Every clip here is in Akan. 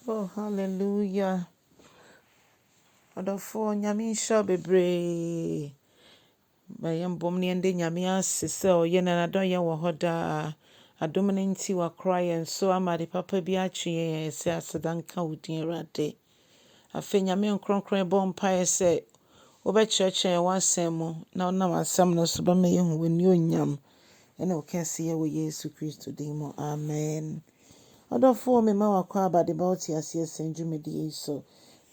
Oh hallelujah ɔdɔfoɔ nyame nhyira wo bebree ma yɛmbom ne yɛnde nyame ase sɛ ɔyɛ na nadɔyɛ wɔ hɔ daa adom no nti wakora yɛn so ama ade papa bi atwe yɛn a yɛsɛ aseda nka wo din awurade afei nyame nkronkron ɛbɔ mpaeɛ sɛ wobɛkyerɛkyerɛ yɛn w'asɛm mu na wonam asɛm no so bɛma yɛhu w'ani onyam ne wo kɛseyɛ wɔ Yesu Kristo din mu, amen. Ɔdɔfoɔ, mema wo akwaaba de ba wo teaseɛ sɛn dwumadie yi so,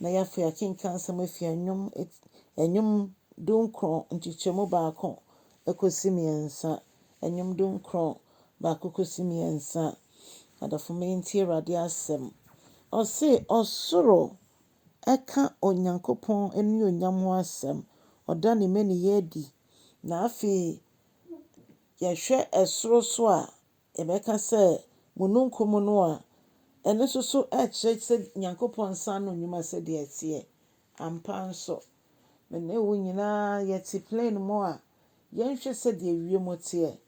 na yɛ afei akenkan nsɛm afiri Ɛnwom, Ɛnwom dunkron nkyekyɛmu baako kɔsi mmiɛnsa, Ɛnwom dunkron baako kɔsi mmiɛnsa. Adɔfo, me ntie Awurade asɛm. Ɔse, ɔsoro ɛka Onyankopɔn anuonyam ho asɛm, ɔda ne mmaniyɛ adi, na afei yɛhwɛ soro so a, yɛbɛka sɛ mununkum no a, ɛno nso so kyerɛ sɛ Nyankopɔn nsa ano nnwuma sɛdeɛ ɛteɛ. Ampa nso, me ne wo nyinaa yɛte plane mu a, yɛnhwɛ sɛdeɛ wiem teɛ.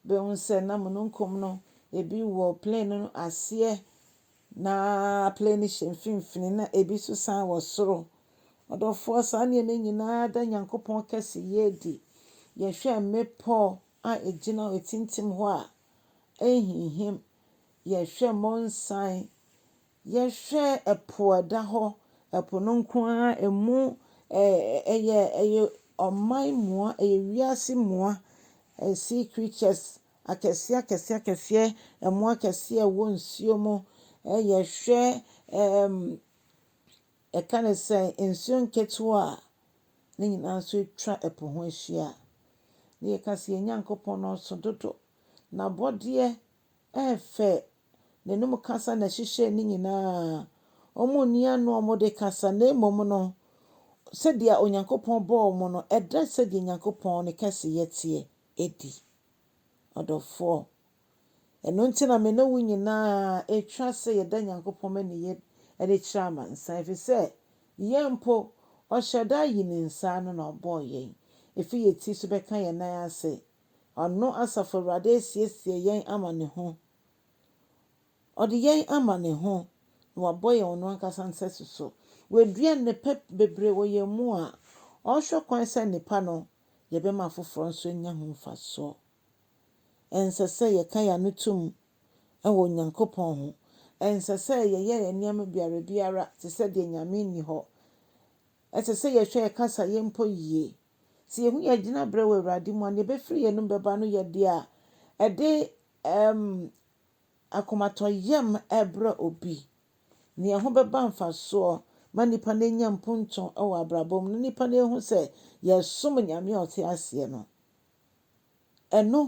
Bɛhu sɛ na mununkum no, ebi wɔ plane no aseɛ. Na plane no hyɛ mfimfini na ebi nso san wɔ soro. Ɔdɔfoɔ, saa nneɛma nyina ara da Nyankopɔn kɛseyɛ adi. Yɛhwɛ mmepɔ a ɛgyina hɔ, ɛtintim hɔ a, ɛnhinhim. Yɛhwɛ monsan, yɛhwɛ ɛpo a ɛda hɔ, ɛpo no nko ara ɛmu ɛyɛ ɔman mua, ɛyɛ wiase mua, sea creatures Akɛseɛ akɛseɛ akɛseɛ, ɛmmoa akɛseɛ a ɛwɔ nsuo mu. Yɛhwɛ ɛɛm yɛka no sɛn, nsuo nketewa a, ne nyinaa nso atwa ɛpo ho ahyia. Ne yɛka sɛ yɛn Nyankopɔn no ɔso dodo. N'abɔdeɛ ɛɛfɛ, n'anum kasa na ɛhyehyɛ ne nyinaa. Wɔnni ano a wɔde kasa na mmom no, sɛdeɛ Onyankopɔn bɔɔ wɔn no, ɛda sɛdeɛ Nyankopɔn ne kɛseyɛ teɛ. adi. Ɔdɔfoɔ, ɛno nti na me ne wo nyinaa ɛtwa sɛ yɛda Nyankopɔn aniyɛ adi kyerɛ amansan, ɛfiri sɛ yɛn mpo, ɔhyɛ da ayi ne nsa ano na ɔbɔɔ yɛn, ɛfiri yɛn ti so bɛka yɛn nan ase. Ɔno, Asafo Awurade, asiesie yɛn ama ne ho. Ɔde yɛn ama ne ho, na wabɔ yɛn ɔno ankasa nsɛso so. Wadua nnepa bebree wɔ yɛn mu a ɔhwɛ kwan sɛ nnepa no yɛbɛma afoforɔ nso anya ho mfasoɔ. Ɛnsɛ sɛ yɛka yɛn ano tom wɔ Onyankopɔn ho. Ɛnsɛ sɛ yɛyɛ yɛn nneɛma biara biara te sɛ deɛ Nyame nni hɔ. Ɛsɛ sɛ yɛhwɛ yɛn kasayɛ mpo yie. Sɛ yɛhu yɛn gyinaberɛ wɔ Awurade mu a, deɛ ɛbɛfiri yɛn anom bɛba no yɛ deɛ a ɛde ɛm, akomatɔyam ɛbrɛ obi. Nea ɛho bɛba mfasoɔ ma nnipa no anya mponto wɔ abrabɔ mu na nnipa no ahu sɛ yɛsom Nyame a ɔte aseɛ no, ɛno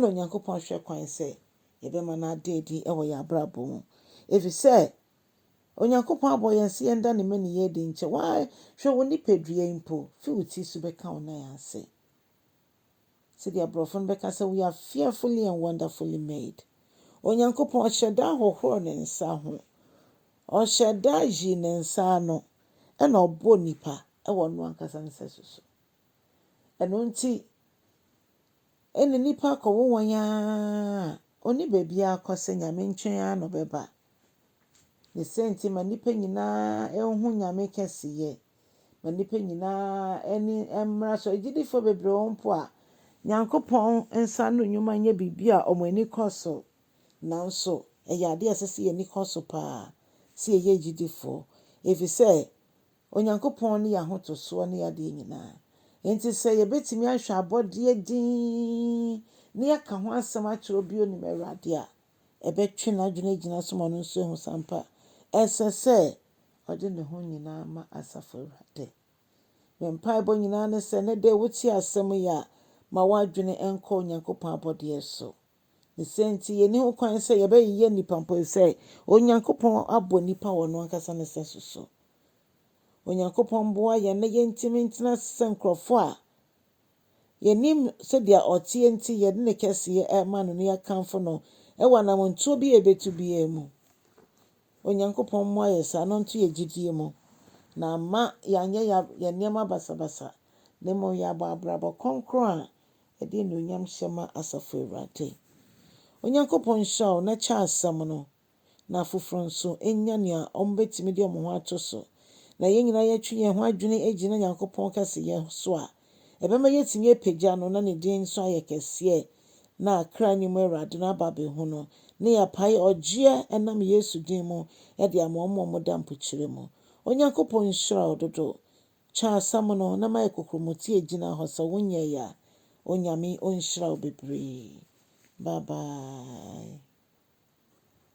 na Onyankopɔn hwɛ kwan sɛ yɛbɛma no ada adi wɔ yɛn abrabɔ mu. Ɛfiri sɛ Onyankopɔn abɔ yɛn sɛ yɛnda ne mmaniyɛ adi nkyɛ. Wahwɛ wo nipadua yi mpo fi wo ti so bɛka wo nan ase. Sɛdeɛ aborɔfo no bɛka sɛ, We are fearfully and wonderfully made. Onyankopɔn ɔhyɛ da hohorɔ ne nsa ho. Ɔhyɛ da yi ne nsa ano na ɔbɔ nipa wɔ ɔno ankasa ne sɛso so. Ɛno nti, ɛne nipa akɔwo wɔn ara ɔni baabi akɔ sɛ nyame nkyɛn ara na ɔbɛba. Ne sɛ nti ma nipa nyinaa ɛho nyame kɛseyɛ. Ma nnipa nyinaa ani mmra so, agyidifoɔ bebree wɔ hɔ mpo a Nyankopɔn nsa ano nnwuma nyɛ biribi a wɔn ani kɔ so. Nanso ɛyɛ adeɛ a ɛsɛ sɛ yɛn ani kɔ so pa ara sɛ yɛyɛ agyidifoɔ, ɛfiri sɛ Onyankopɔn ne yɛn ahotosoɔ ne yɛn adeɛ nyinaa. Enti sɛ yɛbɛtumi ahwɛ abɔdeɛ dinn na yɛaka ho asɛm akyerɛ obi a ɔnim Awurade a, ɛbɛtwe n'adwene agyina so ma ɔno nso ahu sɛ ampa ɛsɛ sɛ ɔde ne ho nyinaa ma Asafo Awurade. Me mpaebɔ nyinaa ne sɛ ɛnnɛ da yi wotie asɛm yi a, ma w'adwene nkɔ Onyankopɔn abɔdeɛ so. Ne sɛ nti, yɛnni ho kwan sɛ yɛbɛyeyɛ nnipa mpo sɛ Onyankopɔn abɔ nnipa wɔ ɔno ankasa ne sɛso so. Onyankopɔn mmoa yɛn na yɛntumi ntena ase sɛ nkurɔfoɔ a yɛnim sɛdeɛ ɔteɛ nti yɛde ne kɛseɛ ɛrema no na yɛakamfo no ɛwɔ anamontuo bi a yɛbɛtu biara mu. Onyankopɔn mmoa yɛn saa na ɔnto yɛn gyidie mu, na amma yɛanyɛ yɛn nneɛma basabasa, na mmom yɛabɔ abrabɔ kronkron a ɛde anuonyam hyɛ ma Asafo Awurade. Onyankopɔn nhyira wo na kyɛ asɛm no, na afoforɔ nso nya nea wɔbɛtumi de wɔn ho ato so, na yɛn nyinaa yɛatwe yɛn ho adwene agyina Nyankopɔn kɛseyɛ so a, Ɛbɛma yɛatumi apagya no na ne din nso ayɛ kɛseɛ na kra no mu Awurade no aba abɛhu no, na yɛapae ɔgyeɛ ɛnam Yesu din mu de ama wɔn a wɔda mpokyerɛ mu. Onyankopɔn nhyira wo dodo. Twa asɛm no na mayɛ kokromotee gyina hɔ sɛ wonyɛe a. Onyame ɔnhyira wo bebree. Bye bye.